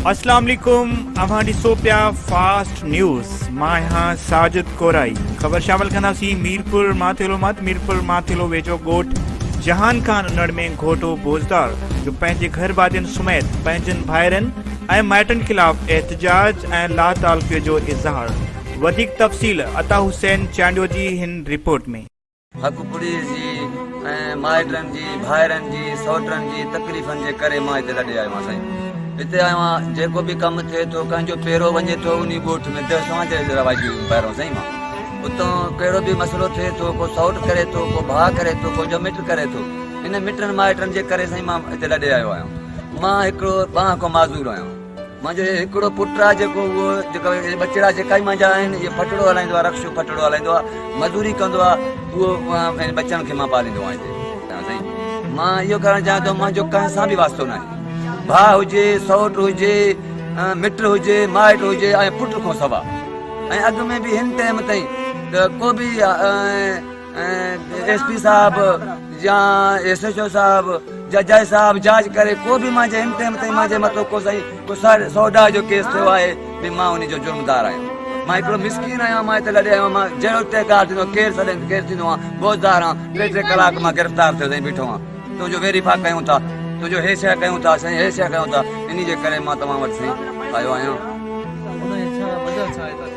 اسلام عليڪم اوهان ڏسو پيا فاسٽ نيوز مان آهيان ساجد ڪورائي خبر شامل ڪنداسين ميرپور ماٿيلو مت ميرپور ماٿيلو ويجهو ڳوٺ جهان خان انڙ ۾ گهوٽو بوزدار جو پنهنجي گهر وادين سميت پنهنجن ڀائرن ۽ مائٽن خلاف احتجاج ۽ لاتعلقيء جو اظهار وڌيڪ تفصيل عطا حسين چانڊيو جي هن رپورٽ ۾. حق پريس جي ۽ مائٽن جي ڀائرن جي سئوٽن جي تڪليفن جي ڪري مان هتي لڏي آيو آهيان سائين هتي آيو آهيان جيڪو به ڪم ٿئي ٿو ڪنهن جو پيرو وڃي ٿو انهي ڳوٺ ۾ دهشت توهان جي رواجي بهرون سائين مان اتان ڪهڙو به مسئلو ٿئي ٿو ڪو سئوٽ ڪري ٿو ڪو ڀاء ڪري ٿو ڪو جو مٽ ڪري ٿو ان مٽن مائٽن جي ڪري سائين مان هتي لڏي آيو آهيان مان هڪڙو بانهه کان معذور آهيان منهنجو هڪڙو پٽ آهي جيڪو جيڪو اهي ٻچڙا جيڪا ئي منهنجا آهن اهي ڦٽڙو هلائيندو آهي رڪشو ڦٽڙو هلائيندو آهي مزوري ڪندو آهي اهو ٻچن کي مان پاليندو آهيان سائين مان اهو ڪرڻ چاهيان ٿو منهنجو ڪنهن سان به واسطو نه آهي ڀاء هجي سوٽ هجي مٽ هجي مائٽ هجي ۽ پٽ کان سوا ۽ اڳ ۾ به هن ٽائم تائين ته کو به ايس پي صاحب يا ايس ايچ او صاحب يا جج صاحب جاچ ڪري ڪو به مانجي ان ٽيم تائين مانجي مٿو ڪو سائين ڪو سر سودا جو ڪيس ٿيو آهي به مان ان جو جرمدار آهيان مان هڪڙو مسڪين آهيان مان هتي لڏي آيو مان جهڙو ٽهڪار ٿيندو ڪير سڏين ڪير ٿيندو آهي بوزدار آهيان ٽي ٽي ڪلاڪ مان گرفتار ٿيو سائين بيٺو آهيان تنهنجو ويريفا ڪيون ٿا تنهنجو هي شيء ڪيون ٿا سائين هي شيء ڪيون ٿا ان جي ڪري مان توهان وٽ سائين آيو آهيان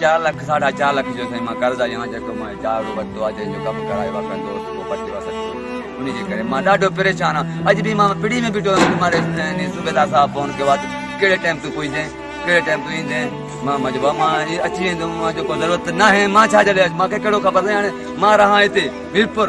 چار لک ساڍا چار لک جو سائين مان قرض آيان جيڪو مان چار رو ورتو آ جنهن جو ڪم ڪرايو آ ڪنهن دوست ڪو پٽي وسڪ ٿو انهي جي ڪري مان ڏاڍو پريشان آ اڄ به مان پڙي ۾ بيٺو آهيان ماري سائين صوبيدار صاحب فون ڪيو آ ته ڪهڙي ٽائيم تون پهچدين ڪهڙي ٽائيم تون ايندين مان مان چيو مان اچي ويندم مان چيو ڪو ضرورت ناهي مان ڇا جي لاء اچ مان کي ڪهڙو خبر سائين هاڻي مان رهان هتي ميرپور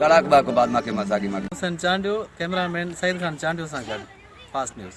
ڪلاڪ ٻه کان بعد ماکي مان ساڳي ماڳ. حسين چانڊيو، ڪئميرا مين سعيد خان چانڊيو سان گڏ، فاسٽ نيوز.